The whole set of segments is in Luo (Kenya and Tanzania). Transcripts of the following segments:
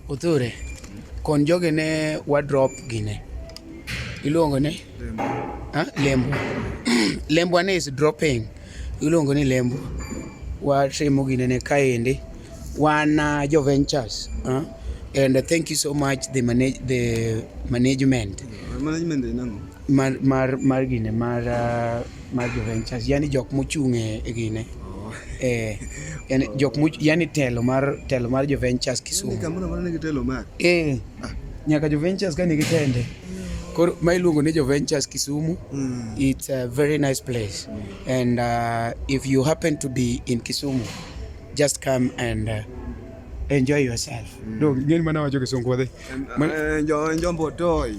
Othure, kon jogi ne wadrop gine. Iluongo ni? Lembo. Lembo ane is dropping. Iluongo ni lembo. Watimo gine ne kaendi. Wan uh, jo ventures. Huh? And uh, thank you so much the, manage, the management. Yeah, management mar mar mar gine mar ah, mar Juventus yani jok mochung' e e gine eh yani jok mo yani telo mar telo mar Juventus Kisumu Kamoro mano nigi telo mar. eh nyaka Juventus ka nigi tende koro ma iluongo ni Juventus Kisumu Mm. it's a very nice place and uh, if you happen to be in Kisumu just come and uh, enjoy yourself mm. no ngeni mana wacho kisungu wadhi Enjo enjo mbotoi.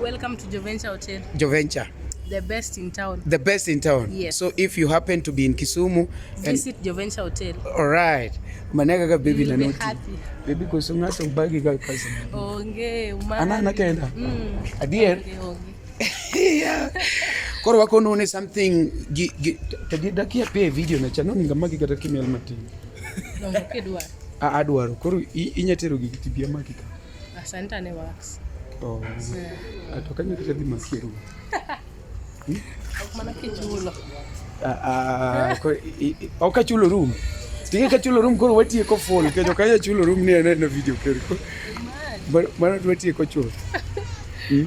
Welcome to Joventure Hotel. Joventure. The best in town. The best in town. Yes. So if you happen to be in Kisumu, visit and... Joventure Hotel. All right. Manaka ka baby na noti. Happy. Baby ko sunga sa ubagi ka kasi. Onge, umana. Ana na kenda. Mm. Adier. Okay, okay. yeah. Koro wako nune something gi gi tadi dakia pe video na chano ninga magi kata kimel matin. Dongo kedwa. A adwaro. Koro inyatero gi tibia magi ka. Asante ne wax. Oh. Yeah. Atokanye kete di maskero. Hmm? Mana kichulo. Ah ah ko oka chulo room. Tinge ka chulo room koro watie ko full ke joka ya chulo room ne ne video kero. Mara tuatie ko chulo. Hmm?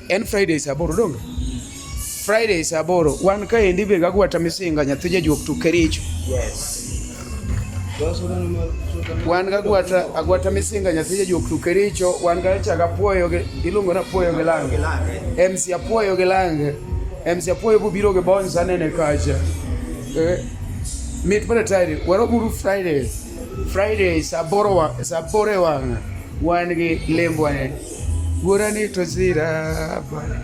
En Friday saa aboro donge? Friday saa aboro wan kaendi be gagwata misinga nyathi jajuok to Kericho. Yes. Wan gagwata agwata misinga nyathi jajuok to Kericho wan gachaga puoyo gi iluongo na puoyo gi lange. MC apuoyo gi lange. MC apuoyo bubiro gi bonza nene kacha. Eh, mit mana tayari waroburu Friday. Friday saa aboro wa- saa aboro e wang'a wan gi lembwa ne. Wuora ni to sira bwana.